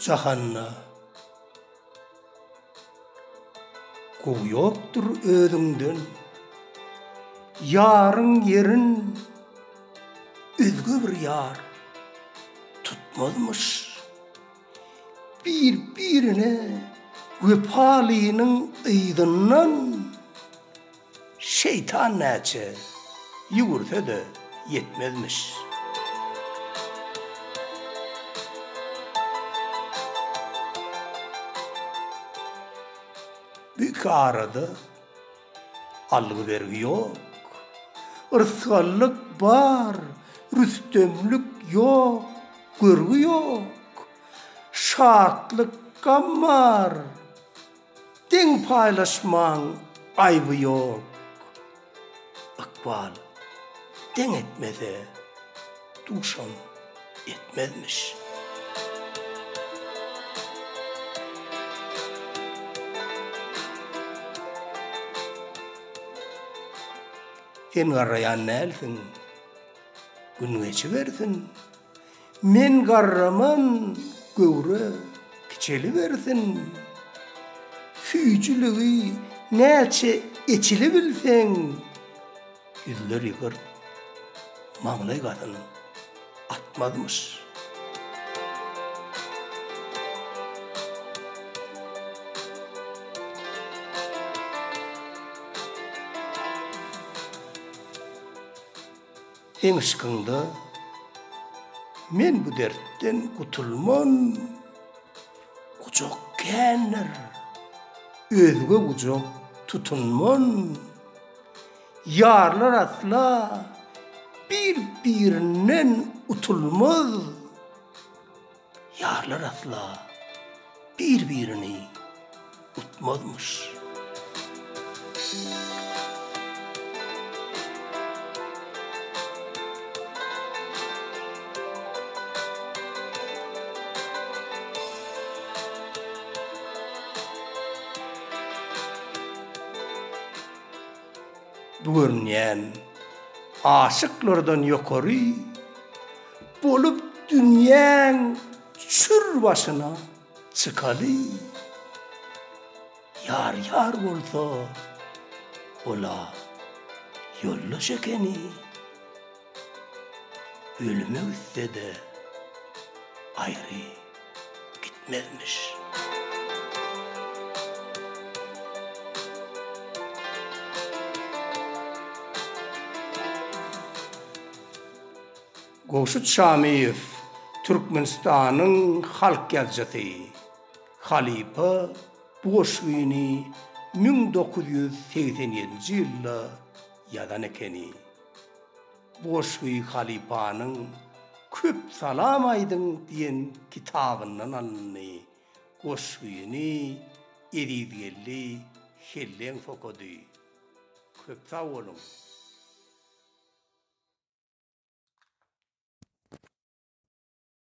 Bu jahanda gowy ýokdur özüňden Ýaryň ýerin özge bir ýar tutmazmyş. Bir-birine wepalynyň yzyndan şeýtan näçe ýüwürse-de ýetmezmiş. Bu iki arada Algy-bergi ýok, yrsgallyk bar, rüstemlik ýok, görgi ýok, şatlyk, gam bar, deň paýlaşmaň aýby ýok, ykbal deň etmese. duşam etmezmiş. Sen garraýan dälsiň. Gün geçibersin. Men garraman, göwre kiçelibersin. Süýjüligi näçe eçilibilseň, Ýüzler ýygyrt, maňlaý gazyn atmazmyş. Seň yşkyňda men bu dertden gutulman, Gujak kändir, özge gujak tutunman. Ýarlar asla bir-birinden utulmaz, Ýarlar asla bir-birini utmazmyş. Bu görünýän aşyklardan ýokary Bolup dünýäň çür başyna çykaly. Ýar ýar bolsa, ol-a ýoldaş ekeni. Ölüme gitse-de aýry gitmezmiş. Gowşut Şamyýew Türkmenistanyň halk ýazyjysy. Halypa bu goşgyny müň dokuz ýüz segsen ýedinji ýylda ýazan ekeni. Goşgy halypanyň Köp salam aýdyň diýen kitabyndan alyndy. Goşgyny Ezizgeldi Helleňs okady. Köp sag boluň!